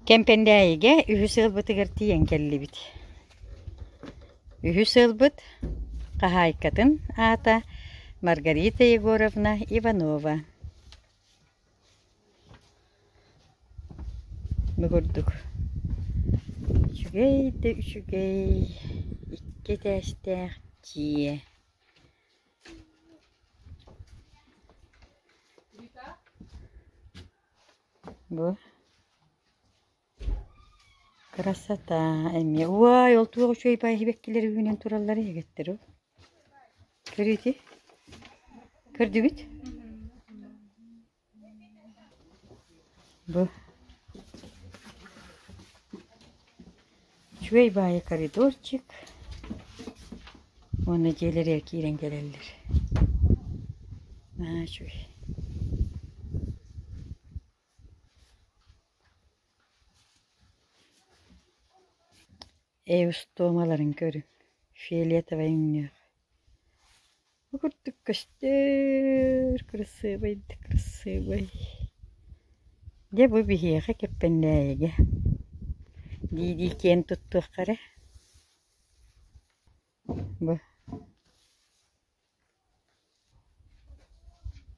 Кэмпэндээйигэ үһүс сыалбытыгар тиийэн кэллибит. Үһүс сыалбыт хаһаайкатын аата Маргарита Егоровна Иванова. Бу курдук үчүгэй да үчүгэй икки этээстээх дьиэ. Бу красота эмиэ уай ол туох үчүгэй баиһибэккилэр үүнэн тураллар эһигэттэр о көрүөтүй көрдүгүт бу Үчүгэй баайа коридорчик уонна дьиэлэригэр киирэн кэлэллэр. Наһаа үчүгэй. Эйустуомаларын көрүҥ, фиолетовай өҥнөөх. Бу курдук көстөр кырасыабайдык кырасыабай. Дьэ бу биһиэхэ Кэппэннээйигэ дии-дии киэн туттуохха эрэ. Бу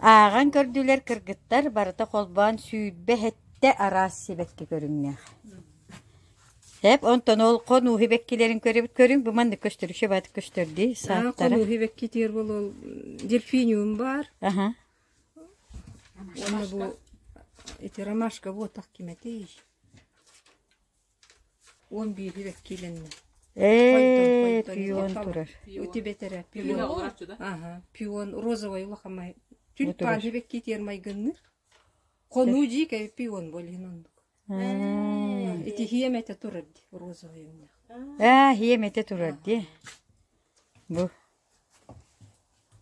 Ааҕан көрдүлэр кыргыттар барыта холбоон сүүрбэ сэттэ араас сибэкки көрүҥнээх Эп онтон ол хонуу сибэккилэрин көрөбүт көрүҥ бу маннык көстөрүччү баатык көстөр дии сааттара. Хонуу сибэккитигэр болол дельфиниум бар. Аха. Уонна бу эти ромашка буотах киме тииш. уон биири вэккиилэннэ пион турар үтүбэтэрэ пион ага пион розовай улахан май түн панни вэккиитиэр майгынныыр хонуу дьиикэби пион болин оннук ити хиэмэтэ турар ди розовай эмнэх ээ хиэмэтэ турар ди бу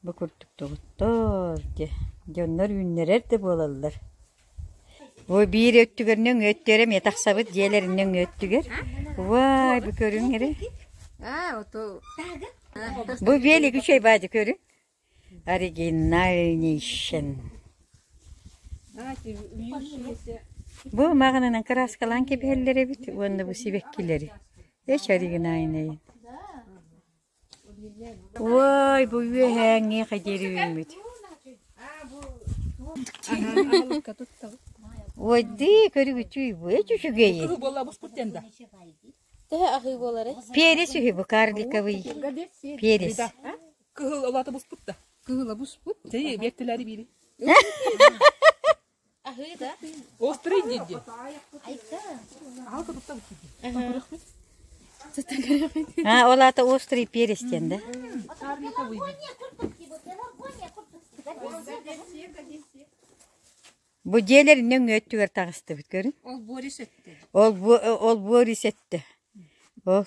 Бу курдук «Доҕоттоор» диэ дьоннор үүннэрэр да буолаллар Бу биир өттүгэр нөҥүө өттүгэр эмиэ тахсабыт дьиэлэрин нөҥүө өттүгэр Вай, бу көрүҥ эрэ Бу велик үчүгэй баадьы көрүҥ Оригинальнейшен Бу маҕанынан кырааскалаан кэбиһэллэр эбит уонна бу сибэккилэри Эч оригинальнайын Ой, бу үөһээҥ миэхэ диэри үүммүт. Ой, дии, көрүгүчүй, бу эч үчүгэйин. Куру буолла бу скутен да. Тэһэ ахый буолары. Перес үһү бу карликовый. Перес. Кыһыл олата буспут да. Кыһыла буспут. Тей, бектеләри бири. Острый дядя. Аһалка туттабыт киһи. Там көрөхмүт. А, ол аата острый перец диэн да. Армията выбив. Бу дьиэлэр нөҥ өттүгэр таҕыстыбыт көрүн. Ол Борис этте. Ол бу ол Борис этте. Ол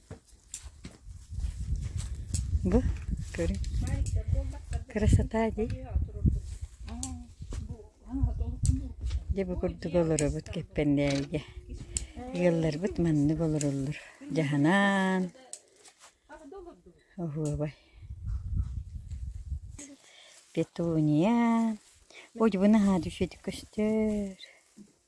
Бу көрүҥ, красота дии. Дьэ бу курдук олоробут Кэппэннээйигэ. Ыалларбыт маннык олороллор. Дьаһанаан, оһуобай. Петуния. Ой, бу наһаа düşedi көстөр.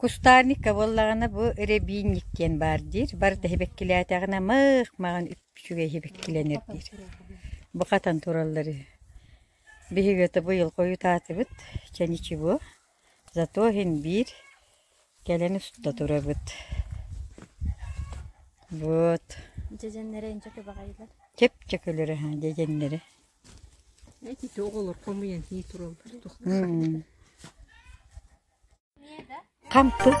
Кустарникка буоллаҕына бу рябинник диэн баар диир. Барыта иһибэккилээтэҕинэ мых маҕан үчүгэй иһибэккилэнэр диир. Бу хатан тураллары биһиги ото быйыл хойутаатыбыт, чэничи бу. Зато иһин биир кэлэн уста турабыт вот Дьэдьэннэрэ инчэ көбөҕөйдүлэр чэпчэкилэрэ ха дьэдьэннэрэ Эти оҕолор хомуйан ии тураллар хам тык